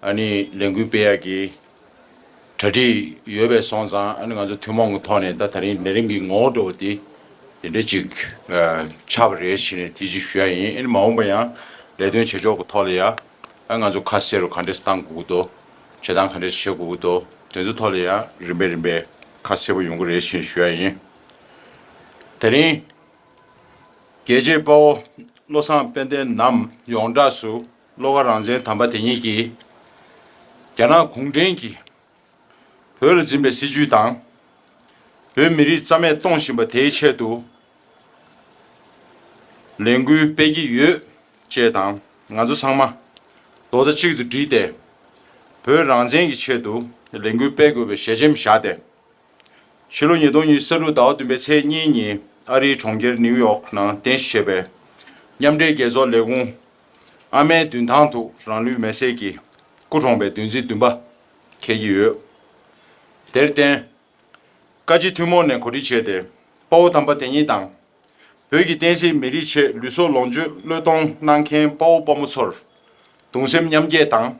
ཨ་ནི་ལས་འགུལ་སྤེལ་ཡག་གི། གྲ་སྒྲིག་ཡོད་པའི་སོང་ཙང་ཨ་ནི་ང་ཚོ་ཐུན་མོང་གི་ཐོག་ནས་ད་ད་རིང་ནད་རིམས་ཀྱི་ངོ་བོ་འགྲོ་བ་དེ་དེ་འདྲ་ཅིག་ཆགས་པ་རེད་ཞེས་ནས་དེ་ཅིག་ཞུ་ཡག་ཡིན་ཨ་ནི་མ་འོངས་པ་ཡང་ལས་དོན་བྱེད་ཕྱོགས་ཀྱི་ཐོག་ལ་ཡང་ཨ་ང་ཚོ་ཁ་གསལ་རུ་ག་འདྲས་སུ་གཏང་དགོས་ཀྱི་འདུག་བྱེད་སྟངས་ག་འདྲས་སུ་བྱེད་དགོས་ཀྱི་འདུག་དེ་ཚོའི་ཐོག་ལ་ཡང་རིམ་པས་རིམ་པས་ཁ་གསལ་པོ་ཡོང་གི་རེད་ཞེས་ཞུ་ཡག་ཡིན། ད་རིང་རྒྱལ་གཅེས་དཔའ་བོ་བློ་བཟང་དཔལ་ལྡན་ནམ་ཡོངས་གྲགས་སུ་བློ་ཁ་རང་བཙན་དམ་པ་དེ་ཉིད་ཀྱིས་རྒྱ་ནག་གུང་ཁྲན་གྱིས་བོད་ལ་འཛིན་པའི་སྲིད་བྱུས་དང། བོད་མི་རིགས་རྩ་མེད་གཏོང་བཞིན་པ་དེའི་ཆེད་དུ་ལས་འགུལ་སྤེལ་གྱི་ཡོད་ཅེས་དང་ང་ཚོ་ཚང་མ་རྡོག་རྩ་གཅིག་ཏུ་སྒྲིལ་ཏེ་བོད་རང་བཙན་གྱི་ཆེད་དུ་ལས་འགུལ་སྤེལ་དགོས་པའི་ཞལ་ཆེམས་བཞག་སྟེ། ཕྱི་ལོ་ཉིས་སྟོང་གཉིས་ས་ལུག་ཟླ་བ་བདུན་པའི་ཚེས་གཉིས་ཉིན་ཨ་རིའི་གྲོང་ཁྱེར་ནིའུ་ཡོག་ནང་རྟེན་གཞི་བྱས་པའི་མཉམ་འབྲེལ་རྒྱལ་ཚོགས་ལས་ཁུངས་ཨ་མའི་མདུན་ཐང་དུ་རང་ལུས་མེ་བསྲེགས་ཀྱིས་སྐུ་གྲོངས་པའི་བདུན་ཚིགས་བདུན་པ་འཁེལ་གྱི་ཡོད། དེར་བརྟེན། བཀའ་སྤྱི་ཐུན་མོང་ནས་གོ་སྒྲིག་བྱས་ཏེ་དཔའ་བོ་དམ་པ་དེ་ཉིད་དང། བོད་ཀྱི་བསྟན་སྲིད་མི་རིགས་ཆེད་ལུས་སྲོག་ལོངས་སྤྱོད་བློས་གཏོང་གནང་མཁན་དཔའ་བོ་དཔའ་མོ་ཚོར་གདུང་སེམས་མཉམ་སྐྱེད་དང།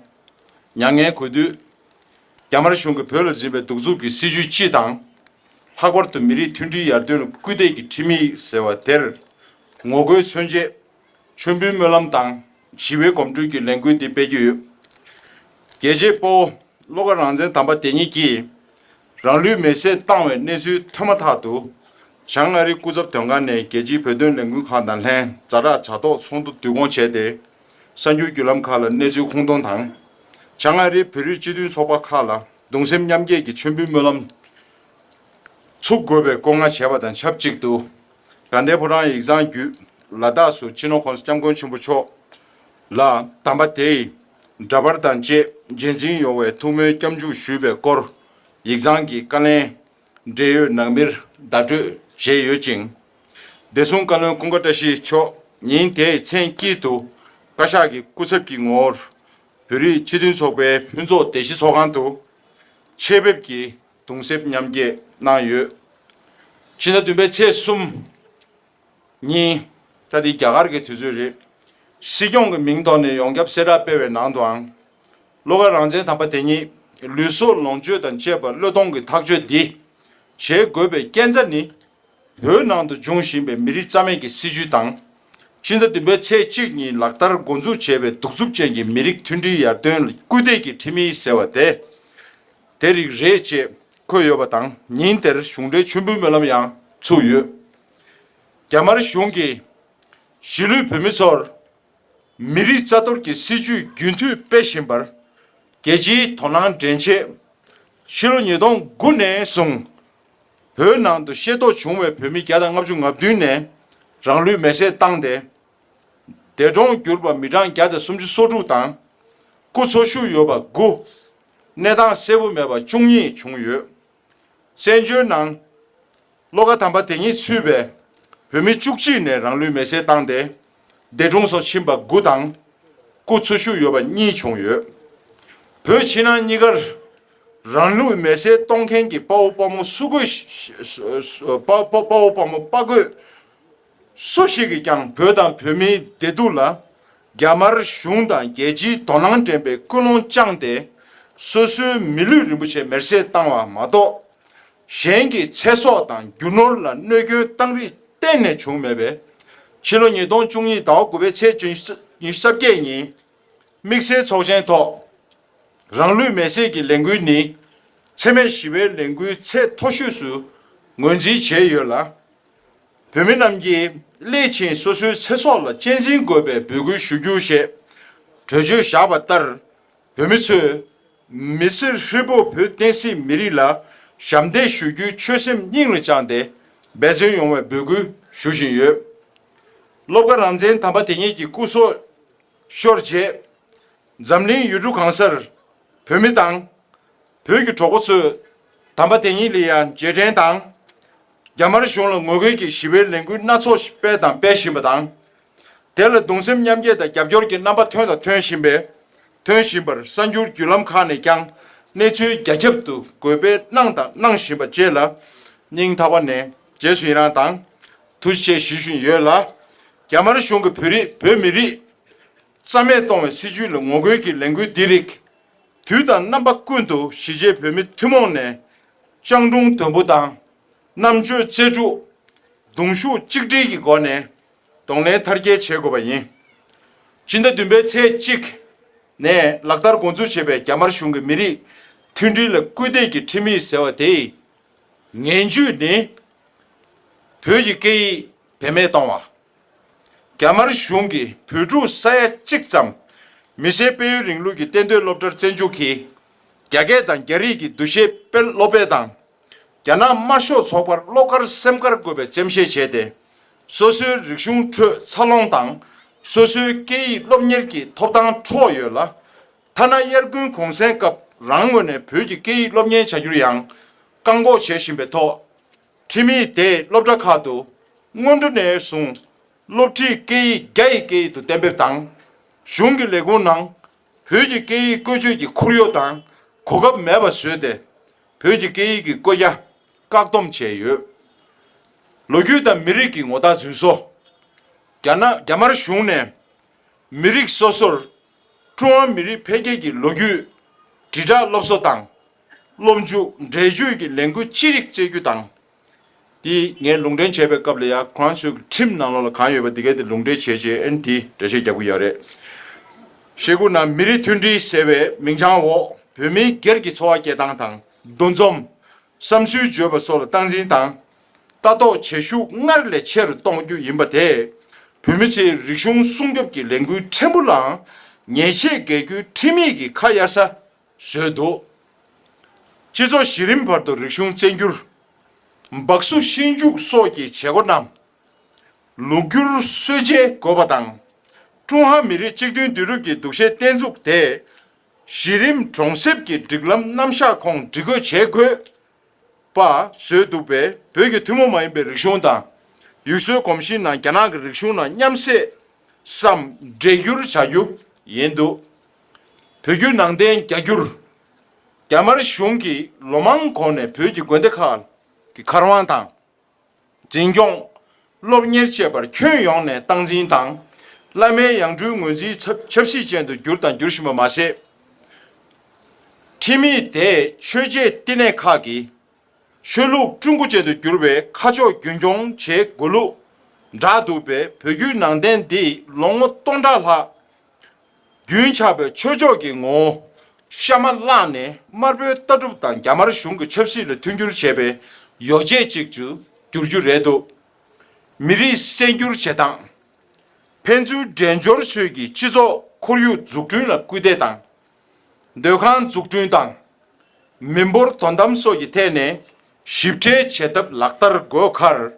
མྱ་ངན་གུས་འདུད། རྒྱ་དམར་གཞུང་གིས་བོད་ལ་འཛིན་པའི་གདུག་རྩུབ་ཀྱི་སྲིད་བྱུས་སྤྱི་དང། ལྷག་པར་དུ་མི་རིགས་མཐུན་སྒྲིལ་ཡར་ཐོན་ལ་སྐུལ་འདེད་ཀྱི་ཁྲིམས་ཡིག་ཟེར་བ་དེར་ངོ་རྒོལ་མཚོན་ཆེད། མཆོད་འབུལ་སྨོན་ལམ་དང་ཞི་བའི་གོམ་བགྲོད་ཀྱི་ལས་འགུལ་འདི་སྤེལ་རྒྱུ་ཡོད། རྒྱལ་གཅེས་སྤོ་བོ་བློ་དགའ་རང་བཙན་དམ་པ་དེ་ཉིད་ཀྱིས་རང་ལུས་མེ་བསྲེགས་བཏང་བའི་གནས་ཚུལ་ཐོས་མ་ཐག་ཏུ་བྱང་མངའ་རིས་སྐུ་ཚབ་དོན་ཁང་ནས་རྒྱལ་སྤྱིའི་བོད་དོན་ལས་འགུལ་ཁང་དང་ལྷན་རྫ་དྲག་བྱ་ཐོག་ཚོགས་འདུ་བསྡུ་སྐོང་བྱས་ཏེ་གསར་འགྱུར་བརྒྱུད་ལམ་ཁག་ལ་གནས་ཚུལ་ཁུངས་སྟོང་དང། བྱང་མངའ་རིས་བོད་རིགས་སྤྱི་མཐུན་ཚོགས་པ་ཁག་ལ་གདུང་སེམས་མཉམ་སྐྱེད་ཀྱི་མཆོད་འབུལ་སྨོན་ལམ་ཚུགས་དགོས་པའི་བཀོད་མངགས་བྱས་པ་དང་ཆབས་ཅིག་ཏུ། དགའ་ལྡན་ཕོ་བྲང་ཡིག་ཚང་བརྒྱུད་ལ་དྭགས་སུ་སྤྱི་ནོར་ཧོར་སྐྱབས་མགོན་ཆེན་པོ་མཆོག་ལ་དམ་པ་དེས་འདྲ་པར་དང་བཅས་རྗེས་འཛིན་ཡོང་བའི་ཐུགས་སྨོན་སྐྱབས་འཇུག་ཞུས་པའི་སྐོར་ཡིག་ཚང་གི་བཀའ་ལན་འབྲེལ་ཡོད་ནང་མིར་བརྡ་སྤྲོད་བཞེས་ཡོད་ཅིང། བདེ་སྲུང་བཀའ་བློན་ཀུན་དགའ་བཀྲ་ཤིས་མཆོག་ཉིན་དེའི་མཚན་དཀྱིལ་དུ་བཀའ་ཤག་གི་སྐུ་ཚབ་ཀྱི་ངོར་བོད་རིགས་སྤྱི་མཐུན་ཚོགས་པའི་ཕུན་ཚོགས་སྡེ་བཞི་ཚོགས་ཁང་དུ་ཆེད་ཕེབས་ཀྱིས་གདུང་སེམས་མཉམ་སྐྱེད་གནང་ཡོད། ཕྱི་ཟླ་བདུན་པའི་ཚེས་གསུམ་ཉིན། ད་དེ་རྒྱ་གར་གྱི་དུས་ཚོད་རེད། སྲིད་སྐྱོང་གི་མིང་ཐོག་ནས་ཡོངས་ཁྱབ་གསལ་བསྒྲགས་སྤེལ་བའི་ནང་དུའང། བློ་དགའ་རང་བཙན་དམ་པ་དེ་ཉིད་ལུས་སྲོག་ལོངས་སྤྱོད་དང་བཅས་པ་བློས་གཏོང་གིས་ཐག་གཅོད་འདི་བྱེད་དགོས་པའི་རྐྱེན་རྩ་ནི། བོད་ནང་དུ་འབྱུང་བཞིན་པའི་མི་རིགས་རྩ་མེད་ཀྱི་སྲིད་བྱུས་དང། ཕྱི་ཟླ་བདུན་པའི་ཚེས་གཅིག་ཉིན་ལག་བསྟར་འགོ་འཛུགས་བྱས་པའི་གདུག་རྩུབ་ཅན་གྱི་མི་རིགས་མཐུན་སྒྲིལ་ཡར་ཐོན་ལ་སྐུལ་འདེད་ཀྱི་ཁྲིམས་ཡིག་ཟེར་བ་དེ། དེ་རིགས་རེད་ཅེས་འཁོད་ཡོད་པ་དང་ཉིན་དེར་གཞུང་འབྲེལ་མཆོད་འབུལ་སྨོན་ལམ་ཡང་ཚུགས་ཡོད། རྒྱ་དམར་གཞུང་གིས་གཞིས་ལུས་བོད་མི་ཚོར་མི་རིགས་རྩ་གཏོར་གྱི་སྲིད་ཇུས་རྒྱུན་མཐུད་སྤེལ་བཞིན་པར་རྒྱལ་སྤྱིའི་དོ་སྣང་འདྲེན་ཆེད། ཕྱི་ལོ་ཉིས་སྟོང་དགུ་ནས་བཟུང་བོད་ནང་དུ་ཤེས་རྟོགས་བྱུང་བའི་བོད་མི་བརྒྱ་དང་ལྔ་བཅུ་ང་བདུན་ནས་རང་ལུས་མེར་སྲེག་བཏང་སྟེ་འདས་གྲོངས་གྱུར་པ་མི་གྲངས་བརྒྱ་དང་སུམ་ཅུ་སོ་དྲུག་དང་སྐུ་འཚོ་བཞུགས་ཡོད་པ་དགུ། གནས་སྟངས་གསལ་བོ་མེད་པ་བཅུ་གཉིས་བྱུང་ཡོད། བཙན་བྱོལ་ནང། བློ་ཁ་དམ་པ་དེ་གཉིས་ཚུད་པའི་བོད་མི་བཅུ་གཅིག་ནས་རང་ལུས་མེ་བསྲེགས་བཏང་སྟེ་འདས་གྲོངས་སུ་ཕྱིན་པ་དགུ་དང། སྐུ་འཚོ་བཞུགས་ཡོད་པ་གཉིས་བྱུང་ཡོད། བོད་ཕྱི་ནང་གཉིས་ཀར་རང་ལུས་མེ་བསྲེགས་གཏོང་མཁན་གྱི་དཔའ་བོ་དཔའ་མོ་སུ་དགོས་དཔའ་བོ་དཔའ་མོ་དཔའ་རྒོད། སུ་ཞིག་གིས་ཀྱང་བོད་དང་བོད་མིའི་བདེ་སྡུག་ལ་རྒྱ་དམར་གཞུང་དང་རྒྱལ་སྤྱིའི་དོ་སྣང་འདྲེན་པའི་ཀུན་སློང་བཅངས་ཏེ་སོ་སོའི་མི་ལུས་རིན་པོ་ཆེ་མེར་སྲེག་བཏང་བ་མ་གཏོགས། གཞན་གྱི་ཚེ་སྲོག་དང་རྒྱུ་ནོར་ལ་གནོད་སྐྱོན་བཏང་རིགས་གཏན་ནས་བྱུང་མེད་པས། ཕྱི་ལོ་ཉིས་སྟོང་བཅུ་གཉིས་ཟླ་བ་དགུ་པའི་ཚེས་བཅུ་ཉིན་གསར་བརྒྱད་ཉིན་དམིགས་བསལ་ཚོགས་ཆེན་ཐོག་རང་ལུས་མེར་སྲེག་གི་ལས་འགུལ་ནི་འཚེ་མེད་ཞི་བའི་ལས་འགུལ་ཚད་མཐོ་ཤོས་སུ་ངོས་འཛིན་བྱས་ཡོད་ལ། བོད་མི་རྣམས་ཀྱིས་སླད་ཕྱིན་སོ་སོའི་ཚེ་སྲོག་ལ་གཅེས་འཛིན་དགོས་པའི་འབོད་སྐུལ་ཞུ་རྒྱུ་ཞེས་གྲོས་ཆོད་བཞག་པ་ལྟར། བོད་མི་ཚོས་མི་སེར་ཧྲིལ་པོ་བོད་བསྟན་སྲིད་མི་རིགས་ལ་ཞབས་འདེགས་ཞུ་རྒྱུའི་ཆོད་སེམས་སྙིང་ལ་བཅངས་ཏེ་འབད་བརྩོན་ཡོང་བའི་འབོད་སྐུལ་ཞུ་བཞིན་ཡོད། སློབ་དགའ་རང་བཙན་དམ་པ་དེ་ཉིད་ཀྱི་སྐུ་སྲོག་ཤོར་རྗེས། འཛམ་གླིང་ཡུལ་གྲུ་གང་སར་བོད་མི་དང། བོད་ཀྱི་གྲོགས་པོ་ཚོས་དམ་པ་དེ་ཉིད་ལི་ཡཱན་རྗེས་དྲན་དང། རྒྱ་དམར་གཞུང་ལ་ངོ་རྒོལ་གྱི་ཞི་བའི་ལས་འགུལ་སྣ་ཚོགས་ཤིག་སྤེལ་དང་སྤེལ་བཞིན་པ་དང། དེ་ལ་གདུང་སེམས་མཉམ་སྐྱེད་དང་རྒྱབ་སྐྱོར་གྱི་རྣམ་པ་ཐོན་དང་ཐོན་བཞིན་པས་ཐོན་བཞིན་པར་གསར་འགྱུར་བརྒྱུད་ལམ་ཁག་ནས་ཀྱང་གནས་ཚུལ་རྒྱ་ཁྱབ་ཏུ་འགོད་སྤེལ་གནང་དང་གནང་བཞིན་པ་བཅས་ལ་སྙིང་ཐག་པ་ནས་རྗེས་སུ་ཡི་རངས་དང་ཐུགས་རྗེ་ཆེ་ཞུ་བཞིན་ཡོད་ལ། རྒྱ་དམར་གཞུང་གིས་བོད་རིགས་བོད་མི་རིགས་རྩ་མེད་གཏོང་བའི་སྲིད་ཇུས་ལ་ངོ་རྒོལ་གྱི་ལས་འགུལ་འདི་རིགས་དུས་དང་རྣམ་པ་ཀུན་ཏུ་གཞིས་བྱེས་བོད་མི་ཐུན་མོང་ནས་སྤྱང་གྲུང་དོན་པོ་དང་རྣམ་དཔྱོད་རྩལ་སྤྲུགས། གདུང་ཤུགས་གཅིག་སྒྲིལ་གྱི་སྒོ་ནས་གདོང་ལེན་མཐར་སྐྱེལ་བྱེད་དགོས་པ་ཡིན། སྤྱི་ཟླ་བདུན་པའི་ཚེས་གཅིག་ནས་ལག་བསྟར་འགོ་འཛུགས་བྱས་པའི་རྒྱ་དམར་གཞུང་གི་མི་རིགས་མཐུན་སྒྲིལ་ལ་སྐུལ་འདེད་ཀྱི་ཁྲིམས་ཡིག་ཟེར་བ་དེའི་ངན་ཇུས་ནི། བོད་ཀྱི་སྐད་ཡིག་བེད་མེད་གཏོང་བ། རྒྱ་དམར་གཞུང་གིས་བོད་ཕྲུག་ས་ཡ་གཅིག་ཙམ་མི་ཤེས་དཔལ་ཡོན་རིང་ལུགས་ཀྱི་གཏན་སྡོད་སློབ་གྲྭར་བཙན་འཇུག་གིས་རྒྱ་སྐད་དང་རྒྱ་རིགས་ཀྱི་འདུ་ཤེས་སྤེལ་སློབ་སྤེལ་དང། རྒྱ་ནག་དམར་ཤོག་ཚོགས་པར་བློ་དཀར་སེམས་དཀར་དགོས་པའི་འཇེམ་བཞེས་བྱས་ཏེ། སོ་སོའི་རིག་གཞུང་ཁྲོད་འཚར་ལོངས་དང་སོ་སོའི་སྐད་ཡིག་སློབ་གཉེར་གྱི་ཐོབ་ཐང་འཕྲོག་ཡོད་ལ། ཐ་ན་དབྱར་དགུན་གུང་གསེང་སྐབས་རང་ངོས་ནས་བོད་ཀྱི་སྐད་ཡིག་སློབ་གཉེར་བྱ་རྒྱུར་ཡང་བཀག་འགོག་བྱེད་བཞིན་པའི་ཐོག། ཁྲིམས་ཡིག་དེ་སློབ་གྲྭ་ཁག་ཏུ་སྔོན་འགྲོ་ནས་བཟུང་སློབ་ཁྲིད་སྐད་ཡིག་རྒྱ་ཡི་སྐད་ཡིག་ཏུ་གཏན་འབེབས་དང། གཞུང་གི་ལས་ཁུངས་ནང་བོད་ཀྱི་སྐད་ཡིག་བཀོལ་སྤྱོད་ཀྱི་ཁོར་ཡུག་དང་གོ་སྐབས་མེད་པ་བཟོས་ཏེ་བོད་ཀྱི་སྐད་ཡིག་གི་བཀོད་རྒྱ་བཀག་སྡོམ་བྱས་ཡོད། ལོ་རྒྱུས་དང་མི་རིགས་ཀྱི་ངོ་རྟགས་རྫུན་བཟོ། རྒྱ་ནག་རྒྱ་དམར་གཞུང་ནས་མི་རིགས་སོ་སོར་ཀྲུང་ཧྭ་མི་རིགས་འཕེལ་རྒྱས་ཀྱི་ལོ་རྒྱུས་དྲིལ་བསྒྲགས་སློབ་གསོ་དང་སློབ་འཇུག་འགྲེལ་བརྗོད་ཀྱི་ལས་འགུལ་ཅི་རིགས་བསྩལ་རྒྱུ་དང། འདི་ངས་ལུང་འདྲེན་བྱས་པའི་སྐབས་ལ་ཡང་ཁོང་ཚོས་ཁྲིམས་ནང་ལོགས་ལ་གང་ཡོད་པ་འདི་གའི་དེ་ལུང་འདྲེན་བྱས་རྗེས་ཨན་དེས་འགྲེལ་བཤད་རྒྱག་གི་ཡོད་རེད། ཤེས་ཁུངས་ནང་མི་རིགས་མཐུན་སྒྲིལ་ཟེར་བའི་མིང་བྱང་འོག་བོད་མིའི་སྒེར་གྱི་འཚོ་བ་སྐྱེལ་སྟངས་དང་འདུ་འཛོམས། བསམ་ཚུལ་བརྗོད་པ་སོགས་ལ་སྟངས་འཛིན་དང་ལྟ་རྟོག་བྱེད་ཤུགས་སྔར་ལས་ཆེ་རུ་གཏོང་རྒྱུ་ཡིན་པ་དེས་བོད་མི་ཚོའི་རིག་གཞུང་སྲུང་སྐྱོབ་ཀྱི་ལས་འགུལ་ཕྲན་བུ་ལའང་ཉེས་ཆད་འགེལ་རྒྱུའི་ཁྲིམས་ཡིག་གི་ཁ་གཡར་ས་བཟོས་འདུག་སྤྱི་ཚོགས་གཞི་རིམ་བར་དུ་རིག་གཞུང་བཙན་འགྱུར། འབག་བཟོ་ཤིང་འཇུག་སོགས་ཀྱི་བྱེད་སྒོ་རྣམས་ལུགས་བསྒྱུར་སྲོལ་འཇལ་དགོས་པ་དང། ཀྲུང་ཧྭ་མི་རིགས་གཅིག་མཐུན་འདུས་གྲུབ་ཀྱི་འདུ་ཤེས་བརྟན་ཚུགས་དེ་གཞི་རིམ་གྲོང་གསེབ་ཀྱི་སྒྲིག་ལམ་རྣམ་གཞག་ཁོངས་སྒྲིག་སྒོས་བྱེད་དགོས། པ་བཟོས་འདུག་པས་བོད་ཀྱི་ཐུན་མོང་མ་ཡིན་པའི་རིག་གཞུང་དང། ཡུལ་སྲོལ་གོམས་གཤིས་རྣམས་རྒྱ་ནག་གི་རིག་གཞུང་ནང་མཉམ་བསྲེས་སམ་འདྲེས་སྒྱུར་བྱ་རྒྱུ་ཡིན་འདུག་བོད་བརྒྱུད་ནང་བསྟན་རྒྱ་སྒྱུར། རྒྱ་དམར་གཞུང་གིས་ལོ་མང་གོང་ནས་བོད་ཀྱི་དགོན་སྡེ་ཁག་གི་མཁར་དབང་དང། འཛིན་སྐྱོང། སློབ་གཉེར་བཅས་པར་ཁྱོན་ཡོངས་ནས་སྟངས་འཛིན་དང། བླ་མའི་ཡང་སྤྲུལ་ངོས་འཛིན་ཚབ་ཁྱབ་གཞི་ཅན་དུ་གྱུར་དང་འགྱུར་བཞིན་པ་མ་ཟད། ཁྲིམས་ཡིག་དེས་ཆོས་བརྒྱད་བསྟི་གནས་ཁག་གི་ཆོས་ལུགས་སྤྲུལ་སྐུ་ཅན་དུ་གྱུར་བའི་ཁ་ཕྱོགས་རྒྱུན་འཁྱོངས་བྱེད་དགོས་ལུགས་བསྒྲགས་འདུག་པས་བོད་བརྒྱུད་ནང་བསྟན་འདི་ལོ་ངོ་སྟོང་ཕྲག་ལྷག་རྒྱུན་ཆགས་པའི་ཆོས་ཕྱོགས་ཀྱི་ངོ་བོ་ཤ་མ་བརླག་ནས་དམར་པོའི་ལྟ་གྲུབ་དང་རྒྱ་དམར་གཞུང་གི་ཆབ་སྲིད་ལ་མཐུན་འགྱུར་བྱེད་པའི་ཡོ་བྱད་ཅིག་ཏུ་འགྱུར་རྒྱུ་རེད་འདུག་མི་རིགས་གསལ་འགྱུར་བྱེད་སྟངས། ཕན་ཚུན་འགྲན་སྦྱོར་ཚུལ་གྱིས་སྤྱི་ཚོགས་ཁོར་ཡུག་འཛུགས་སྐྲུན་ལ་སྐུལ་འདེད་དང། སྡོད་ཁང་འཛུགས་སྐྲུན་དང་མི་འབོར་དོ་དམ་སོགས་ཀྱི་ཐད་ནས་ཞིབ་ཕྲའི་བྱེད་ཐབས་ལག་བསྟར་དགོས་ཁར།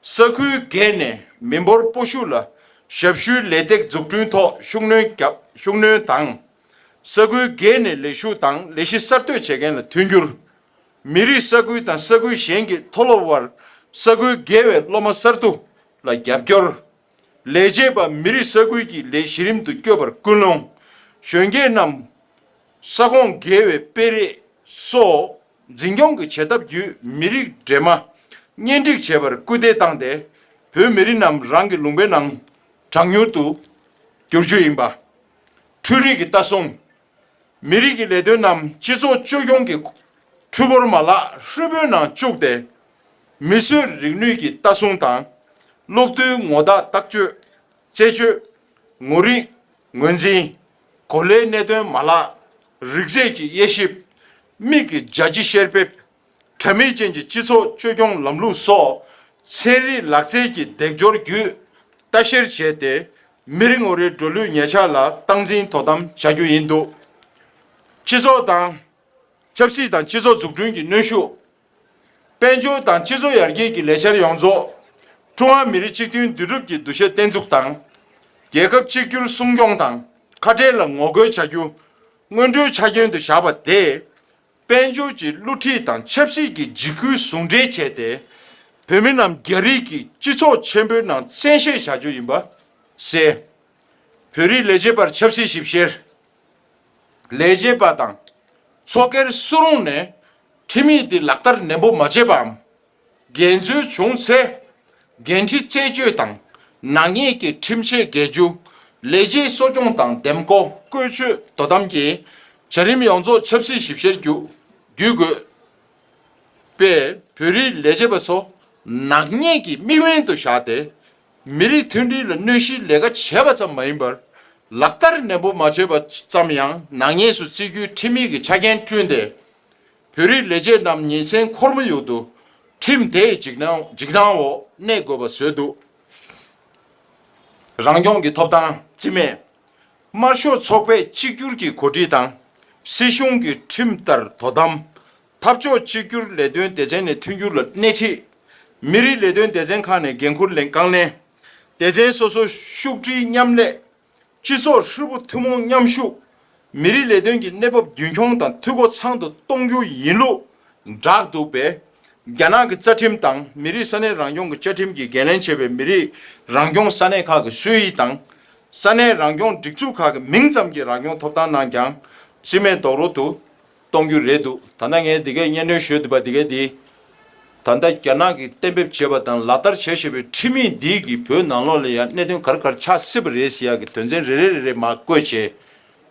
ས་ཁུལ་བརྒལ་ནས་མི་འབོར་སྤོ་ཤུགས་ལ་ཞབས་ཞུའི་ལས་སྟེགས་འཛུགས་སྐྲུན་ཐོག་ཤུགས་སྣོན་བརྒྱབ་ཤུགས་སྣོན་དང། ས་ཁུལ་བརྒལ་ནས་ལས་ཞུགས་དང་ལས་གཞི་གསར་གཏོད་བྱེད་མཁན་ལ་མཐུན་འགྱུར། མི་རིགས་ས་ཁུལ་དང་ས་ཁུལ་གཞན་གྱི་མཐོ་སློབ་དབར་ས་ཁུལ་བརྒལ་བའི་སློབ་མ་གསར་བསྡུ་ལ་རྒྱབ་སྐྱོར། ལས་བྱེད་པ་མི་རིགས་ས་ཁུལ་གྱི་ལས་གཞི་རིམ་དུ་སྐྱོད་པར་སྐུལ་སློང། གཞོན་སྐྱེས་རྣམས་ས་ཁོངས་བརྒལ་བའི་སྤེལ་རེས་སོགས་འཛིན་སྐྱོང་གི་བྱེད་ཐབས་བརྒྱུད་མི་རིགས་འདྲེས་མ་གཉེན་སྒྲིག་བྱེད་པར་སྐུལ་འདེད་བཏང་སྟེ་བོད་མི་རིགས་རྣམས་རང་གི་ལུང་པའི་ནང་གྲགས་མྱུར་དུ་འགྱུར་རྒྱུ་ཡིན་པ། འཕྲུལ་རིག་གི་ལྟ་སྲུང་མི་རིགས་ཀྱི་ལས་དོན་རྣམས་སྤྱི་ཚོགས་བཅོས་སྐྱོང་གི་ཁྲུས་བོར་མ་ལག་ཧྲིལ་པོའི་ནང་བཅུག་སྟེ། མིས་བཟོས་རིག་ནུས་ཀྱི་ལྟ་སྲུང་དང་གློག་རྡུལ་ངོ་བདག་བརྟག་བཅོས། དཔྱད་བཅོས། ངོ་རིག། ངོས་འཛིན། གོ་ལའི་གནད་དོན་མ་ལག། རིགས་རྫས་ཀྱི་དབྱེ་ཞིབ། མིག་གི་རྒྱ་ཆེ་བཤེར་འབེབས། དྲ་མིག་ཅན་གྱི་སྤྱི་ཚོགས་བཅོས་སྐྱོང་ལམ་ལུགས་སོགས་ཚན་རིག་ལག་རྩལ་གྱི་འདེགས་སྐྱོར་བརྒྱུད་ལྟ་བཤེར་བྱས་ཏེ་མི་རེ་ངོ་རེའི་འགྲོ་ལུས་ཉལ་འཆག་ལ་སྟངས་འཛིན་དོ་དམ་བྱ་རྒྱུ་ཡིན་འདུག་སྤྱི་ཚོགས་དང། ཆབ་སྲིད་དང་སྤྱི་ཚོགས་འཛུགས་སྐྲུན་གྱི་གནོན་ཤུགས། དཔལ་འབྱོར་དང་སྤྱི་ཚོགས་ཡར་རྒྱས་ཀྱི་ལས་འཆར་ཡོངས་རྫོགས། ཀྲུང་ཧྭ་མི་རིགས་གཅིག་མཐུན་འདུས་གྲུབ་ཀྱི་འདུ་ཤེས་བརྟན་འཛུགས་དང། རྒྱལ་ཁབ་གཅིག་གྱུར་སྲུང་སྐྱོང་དང་ཁ་ཕྲལ་ལ་ངོ་རྒོལ་བྱ་རྒྱུ་སྔོན་འགྲོའི་ཆ་རྐྱེན་དུ་བཞག་པ་དེས། དཔལ་འབྱོར་གྱི་བསླུ་བྲིད་དང་ཆབ་སྲིད་ཀྱི་འཇིགས་སྐུལ་ཟུང་འབྲེལ་བྱས་ཏེ། བོད་མི་རྣམས་རྒྱ་རིགས་ཀྱི་སྤྱི་ཚོགས་ཆེན་པོའི་ནང་བཙན་ཤེད་བྱ་རྒྱུ་ཡིན་པ་གསལ། བོད་རིགས་ལས་བྱེད་པར་ཆབ་སྲིད་ཞིབ་བཤེར། ལས་བྱེད་པ་དང་ཚོགས་སྒེར་སུ་རུང་ནས་ཁྲིམས་ཡིག་འདི་ལག་བསྟར་ནན་པོ་མ་བྱས་པའམ། འགན་འཛོལ་བྱུང་ཚེ་འགན་འཁྲི་རྩད་གཅོད་དང་ནག་ཉེས་ཀྱི་ཁྲིམས་ཆད་འགེལ་རྒྱུ། ལས་བྱེད་གསོ་སྐྱོང་དང་འདེམས་བསྐོ་བཀོལ་སྤྱོད་དོ་དམ་གྱི་བྱ་རིམ་ཡོངས་རྫོགས་ཆབ་སྲིད་ཞིབ་བཤེར་བརྒྱུད་དགོས་པས་བོད་རིགས་ལས་བྱེད་པ་ཚོ་ནག་ཉེས་ཀྱི་དམིགས་འབེན་དུ་བཞག་སྟེ། མི་རིགས་མཐུན་སྒྲིལ་ལ་གནོད་གཞིའི་ལས་ཀ་བྱས་པ་ཙམ་མ་ཡིན་པར་ལག་བསྟར་ནན་པོ་མ་བྱས་པ་ཙམ་ཡང་ནག་ཉེས་སུ་བརྩི་རྒྱུའི་ཁྲིམས་ཡིག་གི་ཆ་རྐྱེན་བསྐྲུན་ཏེ། བོད་རིགས་ལས་བྱེད་རྣམས་ཉིན་མཚན་ཁོར་མོ་ཡུག་ཏུ་ཁྲིམས་དེའི་འཇིགས་སྣང་འོག་གནས་དགོས་པ་བཟོས་འདུག་རང་སྐྱོང་གི་ཐོབ་ཐང་རྩིས་མེད། དམར་ཤོག་ཚོགས་པས་གཅིག་གྱུར་གྱི་གོ་སྒྲིག་དང་སྲིད་གཞུང་གི་ཁྲིམས་ལྟར་དོ་དམ། འཐབ་ཕྱོགས་གཅིག་གྱུར་ལས་དོན་སྡེ་ཚན་ནས་མཐུན་འགྱུར་ལ་སྣེ་ཁྲིད། མི་རིགས་ལས་དོན་སྡེ་ཚན་ཁག་ནས་འགན་འཁུར་ལེན་རྐང་ལེན། སྡེ་ཚན་སོ་སོ་ཤུགས་སྒྲིལ་མཉམ་ལས་སྤྱི་ཚོགས་ཧྲིལ་པོ་ཐུན་མོང་མཉམ་ཤུགས། མི་རིགས་ལས་དོན་གྱི་གནས་བབ་རྒྱུན་འཁྱོངས་དང་འཐུས་སྒོ་ཚང་དུ་གཏོང་རྒྱུ་ཡིན་ལུགས་བསྒྲགས་འདུག་པས། རྒྱ་ནག་གི་རྩ་ཁྲིམས་དང་མི་རིགས་ས་གནས་རང་སྐྱོང་གི་བཅའ་ཁྲིམས་ཀྱིས་འགན་ལེན་བྱས་པའི་མི་རིགས་རང་སྐྱོང་ས་གནས་ཁག་གི་སྲོལ་ཡིག་དང། ས་གནས་རང་སྐྱོང་སྒྲིག་འཛུགས་ཁག་གི་མིང་ཙམ་གྱི་རང་སྐྱོང་ཐོབ་ཐང་ནང་ཀྱང་རྩིས་མེད་རྡོག་རོལ་དུ་གཏོང་རྒྱུ་རེད་འདུག་ད་ལྟ་ངས་འདི་གའི་སྙན་སྒྲོན་ཞུས་འདུག་པ་འདི་ག་དེ་ད་ལྟ་རྒྱ་ནག་གིས་གཏན་འབེབས་བྱས་པ་དང་ལག་བསྟར་བྱེད་བཞིན་པའི་ཁྲིམས་ཡིག་འདི་གིས་བོད་ནང་ལོགས་ལ་ཡང་གནད་དོན་ག་རེ་ག་རེ་ཆགས་སྲིད་པ་རེད་ཟེར་ཡག་གི་དོན་ཚན་རེ་རེ་རེ་རེ་མ་བཀོད་ཆེད་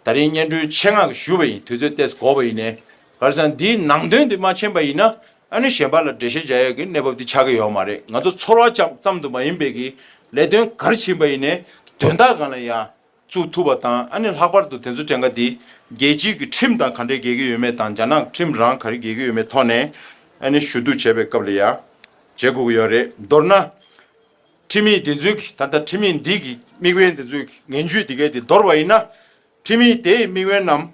ད་རིང་སྙན་སྒྲོན་ཆེད་མངགས་ཞུས་པ་ཡིན་དུས་ཚོད་ལྟས་གོ་བ་ཡིན་ནས་གར་སང་འདིའི་ནང་དོན་འདི་མ་མཁྱེན་པ་ཡིན་ན་ཨ་ནུ་གཞན་པ་ལ་འགྲེལ་བཤད་བྱ་ཡག་གི་གནས་བབ་འདི་ཆགས་ཀྱི་ཡོག་མ་རེད་ང་ཚོ་ཚོར་བ་ཅག་ཙམ་དུ་མ་ཡིན་པའི་གི་ལས་དོན་ག་རེ་བྱིན་པ་ཡིན་ནས་དོན་དག་གང་ལ་ཡང། བཙུགས་ཐུབ་པ་དང་ཨ་ནི་ལྷག་པར་དུ་དེ་ཚོ་བྲན་ཁ་དེ་རྒྱལ་སྤྱིའི་གི་ཁྲིམས་དང་ག་འདྲའི་འགལ་གྱི་ཡོད་མེད་དང་རྒྱ་ནག་གི་ཁྲིམས་རང་ག་རེ་འགལ་གྱི་ཡོད་མེད་ཐོག་ནས་ཨ་ནི་ཞུ་གཏུགས་བྱས་པའི་སྐབས་ལ་ཡ་བྱེད་དགོས་ཀྱི་ཡོད་རེད་མདོར་ན། ཁྲིམས་མི་དེ་ཚོའི་གི་ད་ལྟ་ཁྲིམས་མི་འདི་གི་དམིགས་བན་དེ་ཚོའི་གི་ངན་ཇུས་དེ་གའི་དེ་འདོར་བ་ཡིན་ན། ཁྲིམས་མི་དེའི་དམིགས་བན་རྣམས་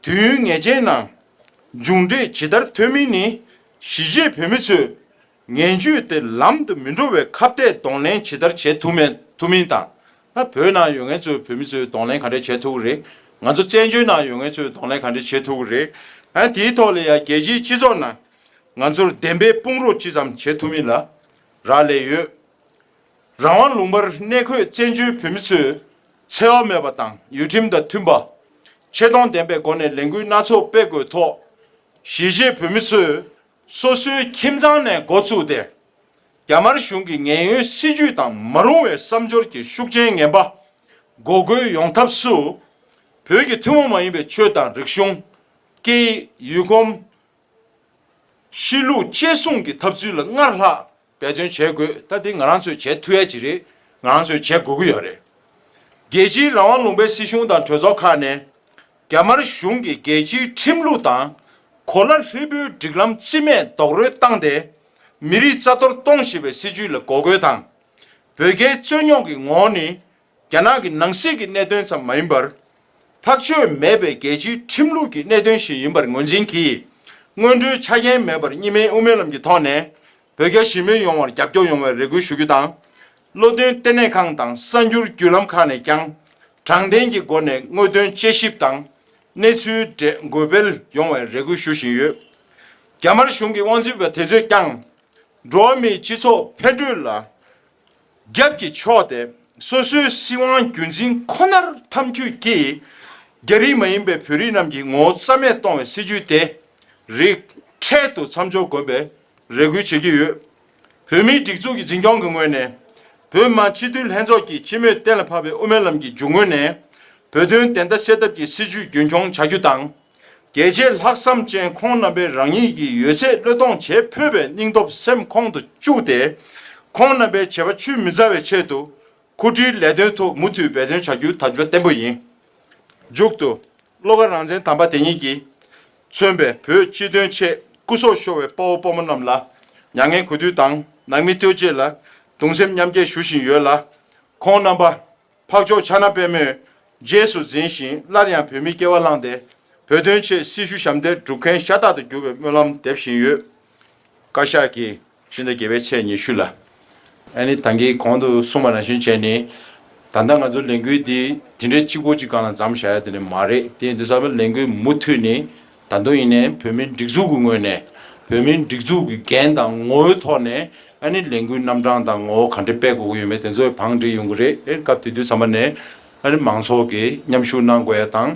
དུས་ཡུན་ངེས་ཅན་ནང་མཇུག་འབྲས་ཇི་ལྟར་ཐོན་མིན་ནི་གཞིས་བྱེས་བོད་མི་ཚོས། ངན་བྱུས་དེ་ལམ་དུ་མི་འགྲོ་བའི་ཁ་བརྡའི་གདོང་ལེན་ཇི་ལྟར་བྱེད་ཐུབ་མེད་ཐུབ་མིན་དང། བོད་ནང་ཡོད་མཁན་ཚོས་བོད་མི་ཚོའི་གདོང་ལེན་ག་འདྲས་བྱེད་ཐུབ་ཀི་རེད། ང་ཚོ་བཙན་བྱོལ་ནང་ཡོད་མཁན་ཚོའི་གདོང་ལེན་ག་འདྲས་བྱེད་ཐུབ་ཀི་རེད། དེའི་ཐོག་ལ་ཡང་རྒྱལ་སྤྱིའི་སྤྱི་ཚོགས་ནང་ང་ཚོར་བདེན་པའི་དཔུང་རོགས་ཅི་ཙམ་བྱེད་ཐུབ་མིན་ལ་རག་ལས་ཡོད། རང་དབང་ལུང་པར་གནས་འཁོད་བཙན་བྱོལ་བོད་མི་ཚོས་འཚེ་བ་མེད་པ་དང་ཡུལ་ཁྲིམས་དང་མཐུན་པ། ཆེ་མཐོང་ལྡན་པའི་སྒོ་ནས་ལས་འགུལ་སྣ་ཚོགས་སྤེལ་དགོས་ཐོག་གཞིས་བྱེས་བོད་མི་ཚོས་སོ་སོའི་ཁྱིམ་ཚང་ནས་འགོ་བཙུགས་ཏེ། རྒྱ་དམར་གཞུང་གི་ངན་གཡོའི་སྲིད་ཇུས་དང་མ་རུང་བའི་བསམ་སྦྱོར་གྱི་ཤུགས་རྐྱེན་ངན་པ་འགོག་རྒོལ་ཡོང་ཐབས་སུ། བོད་ཀྱི་ཐུན་མོང་མ་ཡིན་པའི་ཆོས་དང་རིག་གཞུང། སྐད་ཡིག། ཡུལ་གོམས། གཤིས་ལུགས་བཅས་སྲུང་གི་ཐབས་ཚུལ་ལ་སྔར་ལྷག་འབད་བརྩོན་བྱེད་དགོས་ད་དེ་ང་རང་ཚོས་བྱེད་མཐུ་ཡ་ཅི་རེད་ང་རང་ཚོས་བྱེད་དགོས་ཀྱི་ཡོད་རེད། རྒྱལ་སྤྱིའི་རང་དབང་ལུང་པའི་སྲིད་གཞུང་དང་གྲོས་ཚོགས་ཁག་ནས་རྒྱ་དམར་གཞུང་གི་རྒྱལ་སྤྱིའི་ཁྲིམས་ལུགས་དང་གོ་ལ་ཧྲིལ་པོའི་སྒྲིག་ལམ་རྩིས་མེད་རྡོག་རོལ་བཏང་སྟེ་མི་རིགས་རྩ་གཏོར་གཏོང་བཞིན་པའི་སྲིད་ཇུས་ལ་འགོག་རྒོལ་དང། བོད་རྒྱའི་རྩོད་རྙོག་གི་ངོགས་ནས་རྒྱ་ནག་གི་ནང་སྲིད་ཀྱི་གནད་དོན་ཙམ་མ་ཡིན་པར། ཐག་གཅོད་མེད་པའི་རྒྱལ་སྤྱིའི་ཁྲིམས་ལུགས་ཀྱི་གནད་དོན་ཞིག་ཡིན་པར་ངོས་འཛིན་གྱིས། སྔོན་འགྲོའི་ཆ་རྐྱེན་མེད་པར་གཉིས་སྨན་དབུ་མའི་ལམ་གྱི་ཐོག་ནས་བོད་རྒྱ་ཞི་མོལ་ཡོང་བར་རྒྱབ་སྐྱོར་ཡོང་བའི་རེ་སྐུལ་ཞུ་རྒྱུ་དང། བློ་མཐུན་ལྟེ་གནས་ཁང་དང་གསར་འགྱུར་བརྒྱུད་ལམ་ཁག་ནས་ཀྱང་དྲང་བདེན་གྱི་སྒོ་ནས་དངོས་དོན་དཔྱད་ཞིབ་དང་གནས་ཚུལ་འདྲེས་འགོད་སྤེལ་ཡོང་བའི་རེ་སྐུལ་ཞུ་བཞིན་ཡོད། རྒྱ་དམར་གཞུང་གི་དབང་འཛིན་པ་དེ་ཚོས་ཀྱང། འགྲོ་བ་མིའི་སྤྱི་ཚོགས་འཕེལ་འགྲོས་ལ་རྒྱབ་ཀྱི་ཕྱོགས་དེ་སོ་སོའི་སྲིད་དབང་རྒྱུན་འཛིན་ཁོ་ནར་འཐམ་འཁྱུད་ཀྱིས་རྒྱ་རིགས་མ་ཡིན་པའི་བོད་རིགས་རྣམས་ཀྱི་ངོ་བོ་རྩ་མེད་གཏོང་བའི་སྲིད་ཇུས་དེ་རིགས་འཕྲལ་དུ་མཚམས་འཇོག་དགོས་པའི་རེ་སྐུལ་བྱེད་ཀྱི་ཡོད། བོད་མིའི་སྒྲིག་འཛུགས་ཀྱི་འཛིན་སྐྱོང་གི་ངོས་ནས་བོད་དམངས་སྤྱི་འཐུས་ལྷན་ཚོགས་ཀྱི་སྤྱི་མོས་གཏན་ལ་ཕབ་པའི་དབུ་མའི་ལམ་གྱི་རྒྱུ་དངོས་ནས་བོད་དོན་བདེན་མཐའ་གསལ་ཐབས་ཀྱི་སྲིད་ཇུས་རྒྱུན་འཁྱོངས་བྱ་རྒྱུ་དང། རྒྱལ་གཅེས་ལྷག་བསམ་ཅན་ཁོང་རྣམ་པས་རང་ཉིད་ཀྱི་ཡོད་ཚད་བློས་གཏོང་བྱེད་ཕོད་པའི་སྙིང་སྟོབས་སེམས་ཁོང་དུ་བཅུག་སྟེ། ཁོང་རྣམ་པའི་བྱེད་པ་ཆུད་མི་ཟ་བའི་ཆེད་དུ། འཁུར་འཁྲིའི་ལས་དོན་ཐོག་མུ་མཐུད་འབད་བརྩོན་བྱ་རྒྱུ་ཐབས་སྒྱུར་བརྟན་པོ་ཡིན། མཇུག་ཏུ། བློ་དགའ་རང་བཙན་དམ་པ་དེ་ཉིད་ཀྱིས། མཚོན་པའི་བོད་སྤྱི་དོན་ཆེད་སྐུ་སྲོག་ཤོར་བའི་དཔའ་བོ་དཔའ་མོ་རྣམས་ལ། མྱ་ངན་གུས་འདུད་དང་ནང་མི་ལྟོས་བཅས་ལ་གདུང་སེམས་མཉམ་སྐྱེད་ཞུ་བཞིན་ཡོད་ལ། ཁོང་རྣམ་པ། འཕགས་མཆོག་ཕྱག་ན་པད་མོས་རྗེས་སུ་འཛིན་ཞིང་སླར་ཡང་བོད་མིའི་སྐྱེ་བ་བླངས་ཏེ་བོད་དོན་ཆེད་སྲི་ཞུ་ཞབས་འདེགས་སྒྲུབ་མཁན་ཤ་སྟག་ཏུ་གྱུར་བའི་སྨོན་ལམ་འདེབས་བཞིན་ཡོད། བཀའ་ཤག་གིས་ཕྱི་ཟླ་བརྒྱད་པའི་ཚེས་ཉི་ཤུ་ལ། ཨ་ནི་ཐང་གིས་གོང་དུ་གསུངས་པ་རང་བཞིན་བྱས་ནས། ད་ལྟ་ང་ཚོ་ལས་འགུལ་འདི་དེ་འདྲའི་གཅིག་པོ་གཅིག་གང་ལ་འཛམ་བཞག་ཡ་དེ་ནི་མ་རེད་དེ་འདུག་ཚང་མས་ལས་འགུལ་མུ་མཐུད་ནས་ད་དུང་ཡིན་ནའི་བོད་མིའི་སྒྲིག་འཛུགས་ཀྱི་ངོས་ནས་བོད་མིའི་སྒྲིག་འཛུགས་ཀྱི་འགན་དང་ངོ་བོའི་ཐོག་ནས་ཨ་ནི་ལས་འགུལ་རྣམ་གྲངས་དང་ངོ་བོ་ག་འདྲེ་སྤེལ་དགོས་ཀྱི་ཡོད་མེད་དེ་ཚོའི་བང་བསྒྲིགས་ཡོང་གི་རེད་སྐབས་དེ་དུས་ཚང་མ་ནས་ཨ་ནི་མང་ཚོགས་ཀྱིས་མཉམ་ཞུགས་གནང་དགོས་ཡ་དང་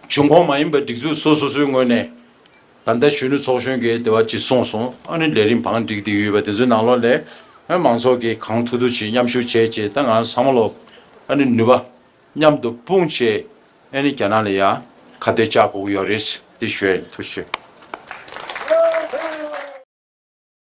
གཞུང་ཁོངས་མ་ཡིན་པའི་སྒྲིག་འཛུགས་སོ་སོ་སོའི་ངོས་ནས་ད་ལྟ་གཞོན་ནུ་ཚོགས་གཞོན་གྱིས་དེ་བ་ཅི་གསུངས་སོང་ཨ་ནི་ལས་རིམ་བང་བསྒྲིགས་དེ་ཡོད་པ་དེ་ཚོའི་ནང་ལོགས་ལས་ཨ་ནི་མང་ཚོགས་ཀྱིས་གང་ཐུག་ཐུག་བྱེད་མཉམ་ཞུགས་བྱེད་ཅེས་ད་ང་ཚང་མ་ལོགས་ཨ་ནི་ནུས་པ། མཉམ་དུ་དཔུང་བྱེད་ཨེ་ནི་རྒྱ་ནག་ལ་ཡང་ཁ་གཏད་བཅག་དགོས་ཀྱི་ཡོད་རེད། དེ་བཞིན་དུ་ཤེས།